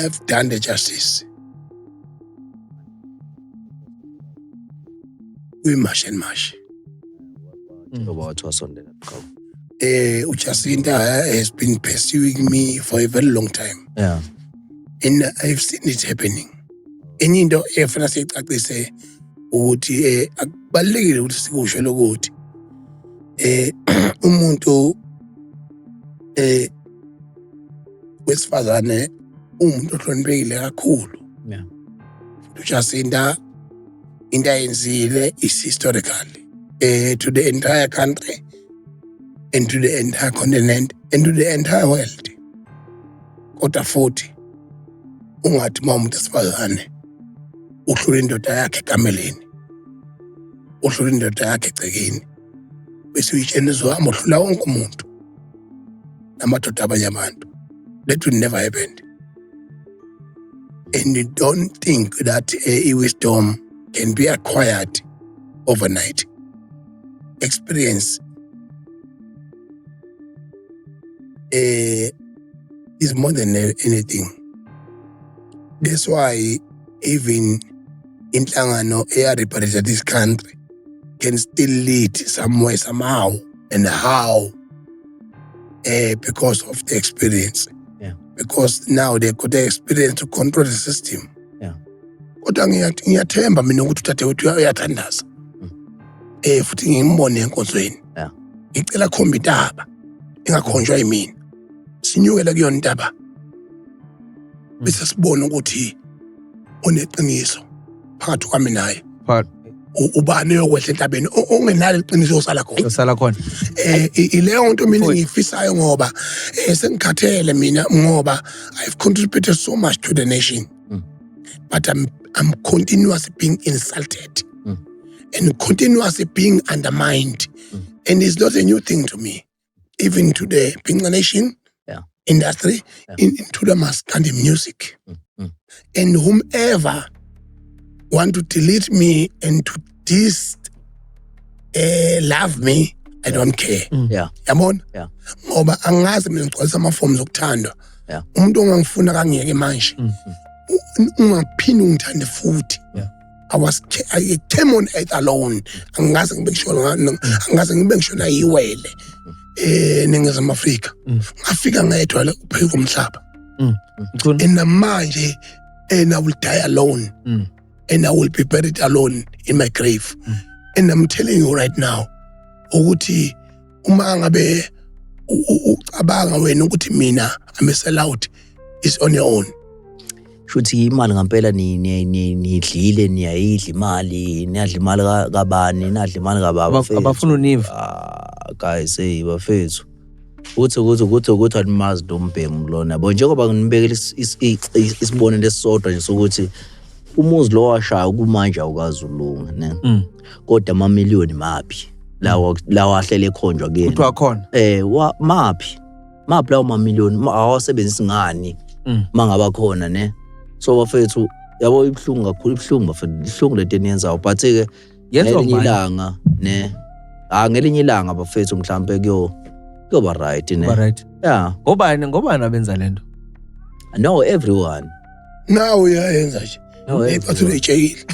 have done the justice kwimash and mash ngoba wathi wasondela qhawe eh ujacinta has been pursuing me for a very long time yeah and i've seen it happening enye into efuna siyicacise ukuthi eh akubalekile ukuthi sikusho lokuthi eh umuntu eh wesifazane uwumuntu ohloniphekile kakhulu yeah. ujasinta into ayenzile is historical uh, to the entire country and to the entire continent and to the entire world kodwa futhi ungathi uma umuntu esifazane uhlula indoda yakhe ekameleni uhlula indoda yakhe egcekeni bese uyitshena izohamba uhlula wonke umuntu namadoda abanye abantu that will never happen and you don't think that eh, i-wisdom can be acquired overnight experience uh, is more than anything that's why even inhlangano eya-representa this country can still lead somewhere somehow and how uh, because of the experience yeah. because now they got the experience to control the system yeah. kodwa ngiyathemba mina ukuthi udadewethu uyathandaza um mm. eh, futhi ngimbone enkonzweni yeah. ngicela khomba intaba ingakhonjwa yimina sinyukele kuyona intaba bese sibone ukuthi oneqiniso phakathi kwami naye Phakathi. U- ubani oyokwehla entabeni O- ongenalo iqiniso yosala khona Yosala khona. eh i- ileyo nto mina Mfowethu. engiyifisayo ngoba eh, sengikhathele mina ngoba i've contributed so much to the nation Mm. but i'm i'm continuously being insulted Mm. and continuously being undermined Mm. and it's not a new thing to me even to the Pinga Nation yeah. industry, yeah. In, into the mass and the music. Mm, mm. And whomever want to delete me and to dis uh, love me, I don't care. Mm. Yeah. Yabona? Yeah. Ngoba angazi mina ngigcwalisa ama forms okuthandwa. Yeah. Umuntu ongangifuna kangiyeke manje. Mm. Ungaphindi ungithande futhi. Yeah. I was I came on earth alone angikaze ngibe ngisho angikaze ngibe ngisho na iwele eh ningizimu Afrika mm. ngafika ngedwa la upheka umhlaba mm. and manje and I will die alone mm. and I will be buried alone in my grave and I'm telling you right now ukuthi uma ngabe ucabanga wena ukuthi mina I'm a sellout is on your own shuthi imali ngampela nidlile niyayidla imali niyadla imali kabani nadla imali kababa abafuna univa ah, guys hey bafethu uthi ukuthi ukuthi ukuthi animazi lo mbhemu lona bo njengoba nginibekela isibonelo esisodwa nje sokuthi umuzi lo washaya kumanje awukazi ulunga ne mm. kodwa amamiliyoni maphi lawa lawa ahlele ekhonjwa kuyena kuthiwa akhona eh wa- maphi maphi lawo mamiliyoni Ma- awasebenzisi ngani Mm. mangaba khona ne so bafethu yabo ibuhlungu kakhulu ibuhlungu bafethu ibuhlungu lento eniyenzayo but ke yenziwa ngelinye ngubani ilanga ne ah ngelinye ilanga bafethu mhlambe kuyo kuyoba right ne Kuba right yeah ngobani ngobani abenza lento no everyone nawe uyayenza nje No, eh, Athi everyone. uyitshekile.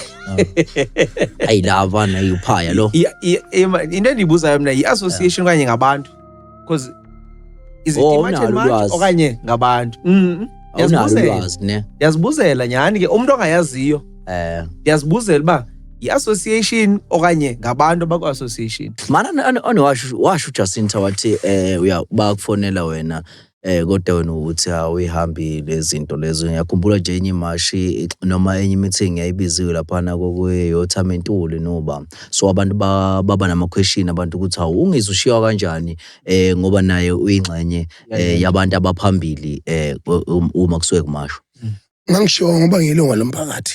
ayi la bana yuphaya lo I- i- ima- into endiyibuzayo mna yi-association okanye ngabantu because is it Oh, iMarch and awunalo March ulwazi. okanye ngabantu Mm, awunalo ndiyazibuzela ulwazi ne ndiyazibuzela nyhani ke umntu ongayaziyo eh ndiyazibuzela uba yi-association okanye ngabantu abakwi-association mana ane- ane washo washo uJacinta wathi eh uya bakufonela wena Eh kodwa wena uthi awuyihambile izinto lezo. Ngiyakhumbula nje enye imashi noma enye i-meeting yayibiziwe laphana kokuyothama intuli noba. So abantu ba- baba nama-question abantu ukuthi hawu ungizwe ushiywa kanjani eh ngoba naye uyingxenye eh yabantu abaphambili eh ku- um- uma kusuke kumashwa. Ngangishiwo ngoba ngiyilunga lomphakathi.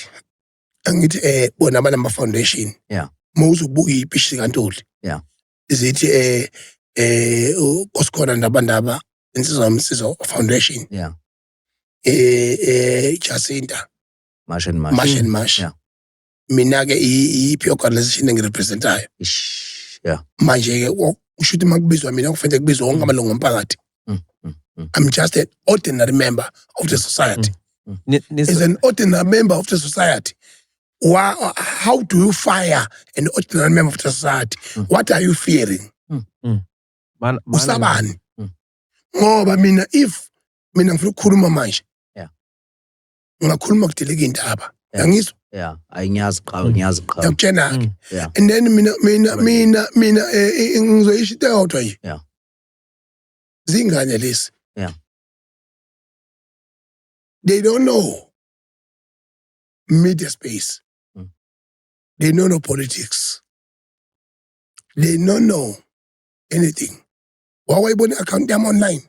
Angithi eh bona banama foundation. Yeah. Uma uzobuka ipishi kaNtuli. Yeah. zithi eh eh usikhona ndaba ndaba insizwa yomsizo foundation yeah eh eh Jacinta Marsh and Marsh Marsh and Marsh yeah mina ke iyiphi organization engirepresentayo yeah manje ke usho ukuthi makubizwa mina kufanele kubizwe wonke mm. amalungu omphakathi mm, mm, I'm just an ordinary member of the society. Mm, mm. As an ordinary member of the society, Why, how do you fire an ordinary member of the society? Mm. What are you fearing? Mm. Mm. Man, man, Usabani? Mm. Ngoba mina if mina ngifuna ukukhuluma manje. Yeah. Ngakhuluma kudeleka indaba. Yeah. Ngangizwa? Yeah, ayinyazi qhawe, mm. ngiyazi qhawe. Yakutshena ke. Mm. Yeah. And then mina mina mina mina eh, eh, ngizoyisho into eyodwa nje. Yeah. Zingane lesi. Yeah. They don't know. media space mm. they know no politics they know no anything wawayibona i-akhawunti yami online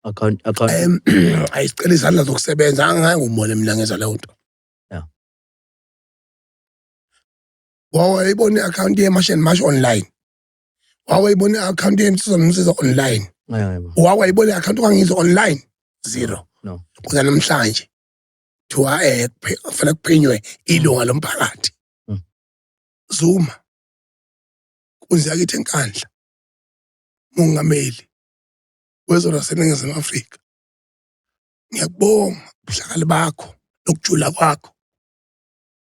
account account um ayisicela izandla zokusebenza angake ngumone mina ngenza leyo nto yeah wawayibona i-akhawunti yemashen mash online wawayibona i-akhawunti yensizwa nomsiza online wawayibona i-akhawunti ungangizwa online zero kuza namhlanje kuthiwa um eh, kufanele kuphenywe ilunga mm. lomphakathi mm. zuma kunzi yakithi enkandla mongameli wezwe laseningizimu afrika ngiyakubonga ubuhlakali bakho nokujula kwakho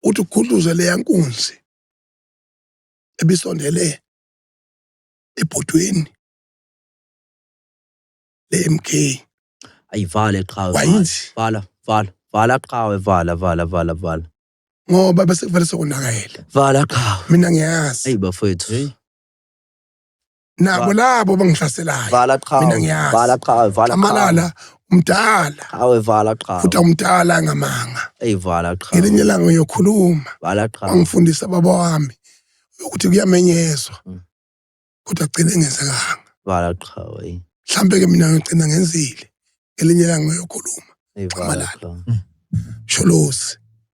uthi ukhuluze leya nkunzi ebisondele ebhodweni le-MK ayivale qhawe vala wayithi vala vala vala qhawe vala vala vala vala ngoba bese kuvele sokonakele vala qhawe mina ngiyazi eyi bafowethu Hey. nabo labo bangihlaselayo vala qhawe mina ngiyazi vala qhawe vala qhawe amalala umdala qhawe vala qhawe futhi umdala ngamanga ey vala qhawe ngelinye ilanga uyokhuluma vala qhawe angifundisa baba wami ukuthi kuyamenyezwa mm. kodwa agcine engenzekanga vala qhawe mhlambe ke mina ngigcina ngenzile ngelinye ilanga uyokhuluma amalala mm. sholosi